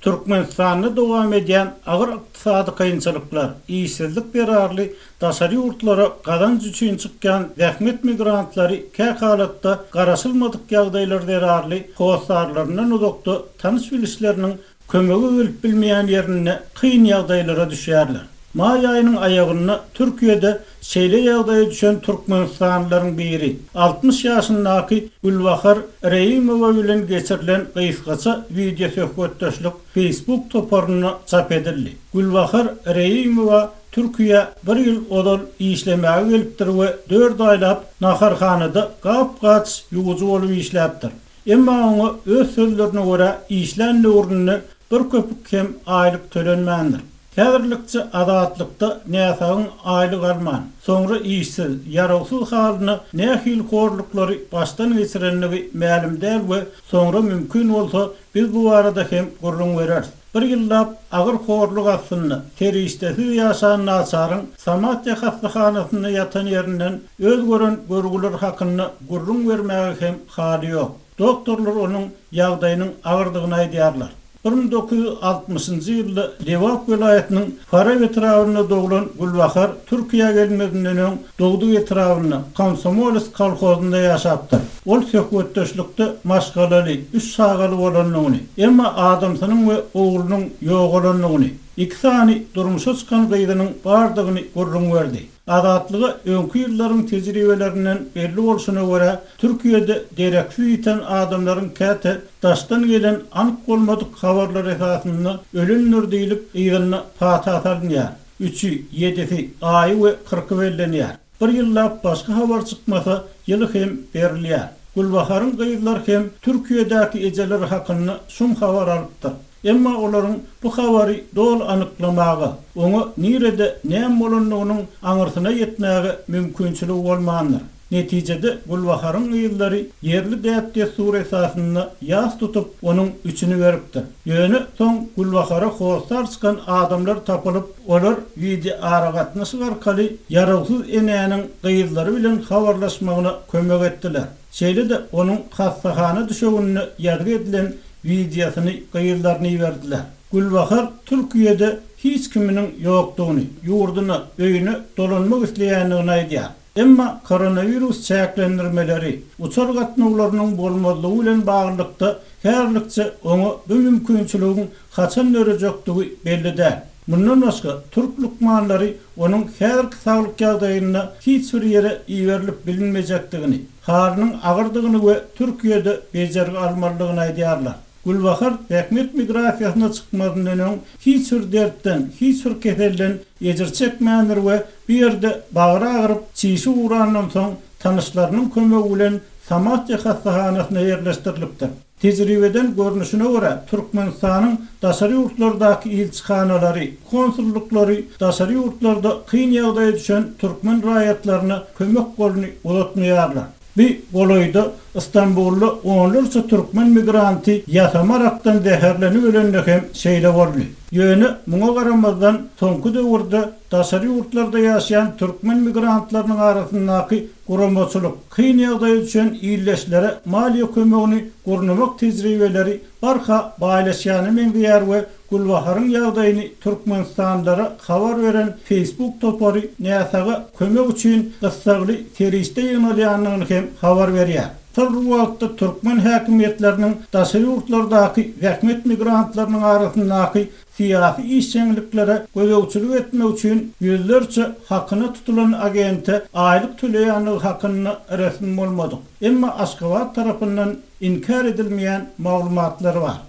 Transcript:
Türkmenistanda dowam edýän agyr ykdysady kynçylyklar, işsizlik zerarly daşary ýurtlara gazanç üçin çykýan zähmet migrantlary kähalatda garaşylmadyk ýagdaýlar zerarly hossarlaryndan uzakda tanyş-bilişleriniň kömege gelip bilmeýän ýerinde kyn ýagdaýlara düşýärler. Maý aýynyň aýagynda Türkiýede Şeýle ýagdaýa düşen türkmenistanlylaryň biri, altmyş ýaşyndaky Gülbahar Reýimowa bilen geçirilen gysgaça wideosöhbetdeşlik Facebook toparynda çap edildi. Gülbahar Reýimowa Türkiýä bir ýyl ozal işlemäge gelipdir we dört aýlap naharhanada gap-gaç ýuwujy bolup işläpdir. Emma oňa öz sözlerine görä, işlän döwründe bir köpük hem aýlyk tölenmändir. Häzirlikçe azatlykda näsagyň aýlyk alman, soňra işsiz, ýarawsyz halynda nähili horluklary başdan geçirendigi mälim däl we soňra mümkin bolsa biz bu barada hem gürrüň bereris. Bir ýyllap agyr horluk astynda, serişdesiz ýaşan naçaryň Samatýa hassahanasynda ýatan ýerinden öz gören görgüleri hakynda gürrüň bermäge hem haly ýok. Doktorlar onuň ýagdaýynyň agyrdygyny aýdýarlar. Bir müň dokuz ýüz altmyşynjy ýylda Lebap welaýatynyň Farap etrabynda doglan Gülbahar Türkiýä gelmezinden öň dogduk etrabynda, Komsomoles kolhozynda ýaşapdyr. Ol söhbetdeşlikde maşgalaly, üç çagaly bolandygyny, emma adamsynyň we oglunyň ýogalandygyny, iki sany durmuşa çykan gyzynyň bardygyny gürrüň berdi. Azatlyga öňki ýyllaryň tejribelerinden belli bolşuna görä, Türkiýede dereksiz ýiten adamlaryň käte daşdan gelen anyk bolmadyk habarlar esasynda ölendir diýlip, yzyna pata salynýar. Üçi, ýedisi, aýy we kyrky bellenýär. Bir ýyllap başga habar çykmasa, ýyly hem berilýär. Gülbaharyň gyzlar hem Türkiýedäki ejeleri hakynda şum habar alypdyr. Emma olaryň bu habary doly anyklamaga, oňa nirede näme bolandygynyň aňyrsyna ýetmäge mümkinçiligi bolmandyr. Netijede Gülbaharyň gyzlary ýerli däp-dessur esasynda ýas tutup, onuň üçüni beripdir. Ýöne soň Gülbahara hossar çykan adamlar tapylyp, olar wideoaragatnaşyk arkaly ýarawsyz enäniň gyzlary bilen habarlaşmagyna kömek etdiler. Şeýle-de onuň hassahana düşeginde ýazgy edilen wideosyny gyzlaryna iberdiler. Gülbahar Türkiýede hiç kiminiň ýokdugyny, ýurduna, öýüne dolanmak isleýändigini aýdýar. Emma koronawirus çäklendirmeleri, uçar gatnawlarynyň bolmazlygy bilen baglylykda häzirlikçe oňa bu mümkinçiligiň haçan dörejekdigi belli däl. Mundan başga, türk lukmanlary onuň häzirki saglyk ýagdaýynda hiç bir ýere iberilip bilinmejekdigini, halynyň agyrdygyny we Türkiýede bejergi almalydygyny aýdýarlar. Gülbahar zähmet migrasiýasyna çykmazyndan öň hiç bir dertden, hiç bir keselden ejir çekmändir we bu ýerde bagry agyryp, çişi gurandan soň, tanyşlarynyň kömegi bilen Samatýa hassahanasyna ýerleşdirilipdir. Tejribeden görnüşine görä, Türkmenistanyň daşary ýurtlardaky ilçihanalary, konsullyklary daşary ýurtlarda kyn ýagdaýa düşen türkmen raýatlaryna kömek goluny uzatmaýarlar. Bi golaýda Istanbulda onlarça türkmen migranty ýasama rakdan zäherlenip ölende hem şeýle boldy. Ýöne muňa garamazdan, soňky döwürde Daşary ýurtlarda ýaşaýan türkmen migrantlarynyň arasyndaky guramaçylyk, kyn ýagdaýa düşen ildeşlere maliýe kömegini gurnamak tejribeleri barha baýlaşýana meňzeýär we Gülbaharyň ýagdaýyny türkmenistanlylara habar beren Facebook topary näsaga kömek üçin gyssagly serişde ýygnalýanyny hem habar berýär. Şol wagtda türkmen häkimiýetleriniň daşary ýurtlardaky zähmet migrantlarynyň arasyndaky syýasy işjeňliklere gözegçilik etmek üçin ýüzlerçe hakyna tutulan agente aýlyk töleýändigi hakynda resmi bolmadyk, emma Aşgabat tarapyndan inkär edilmeýän maglumatlar bar.